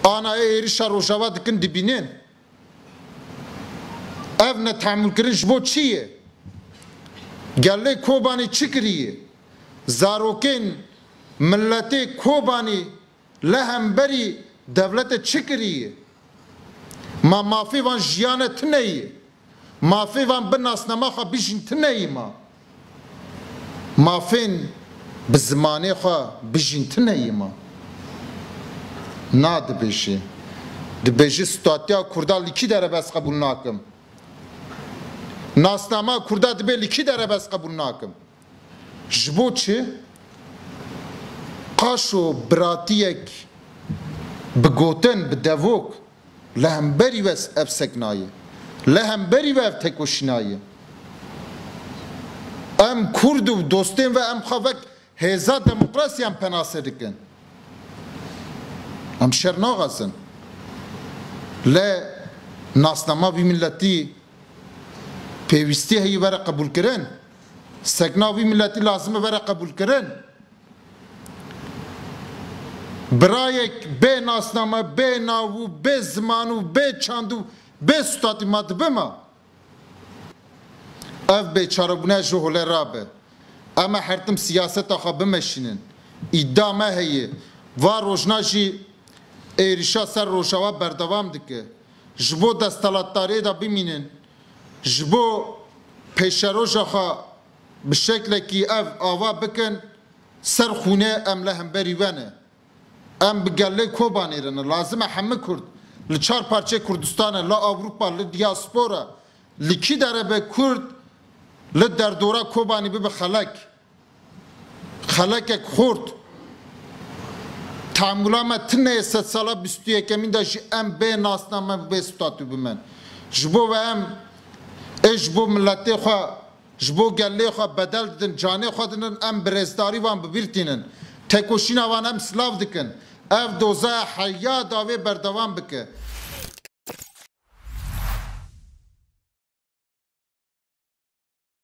Anayê êrişa Rojava dikin dibînin. Ev netehemûlkirin ji bo çi ye? Gelê Kobanî çi kiriye? Zarokên miletê Kobanî li hemberî dewlete çi kiriye? Ma mafê van jiyane tune ye. Mafê van bi nasnama xwe bijîn tu neyî ma. Mafên bi zimanê xwe bijîn tu neyî ma. Na dibêjê. Dibêjê statiya kurda li kî derebez qebûl nakim. Nasnama kurda dibê li kî derebez qebûl nakim. Ji bo çi? Qaşo biratiyek bi gotin, bi devok Li hemberî we ev sekna ye. Li hemberî we ev tekoşîna ye. Em kurd û dostên we em xwe wek hêza demokrasiyan penase dikin. Em şer naxezin. Lê nasnama vî miletî pêwîstî heye were qebûlkirin. Sekna vî miletî lazim e were qebûlkirin. Birayek bê nasname, bê nav û bê ziman û bê çand û bê sutatî ma dibe ma. Ev bêçarebûne ji holê re be. Em ê hertim siyaseta xwe bimeşînin. Îdia me heye, va rojna jî êrîşa ser Rojava berdewam dike. Ji bo desthilatdariyê de bimînin, ji bo pêşeroja xwe, Bi şeklekî ev ava bikin ser xûnê em li hemberî we ne. Em bi gelê Kobanê re ne. Lazim e hemû kurd li çar parçeyê Kurdistanê, li Ewropa, li diaspora, li kî dere be kurd li derdora Kobanê bibe xelek. Xelekek xort. Teamûla me tune yê sedsala bîst û yekemîn de jî em bê nasname bi vê statû bimen. Ji bo we em ê ji bo miletê xwe, Ji bo gelê xwe bedel didin, canê xwe didin, em bi rêzdarî wan bi bîr tînin. Têkoşîna wan em silav dikin. Ev doza ya heya dawê berdewam bike.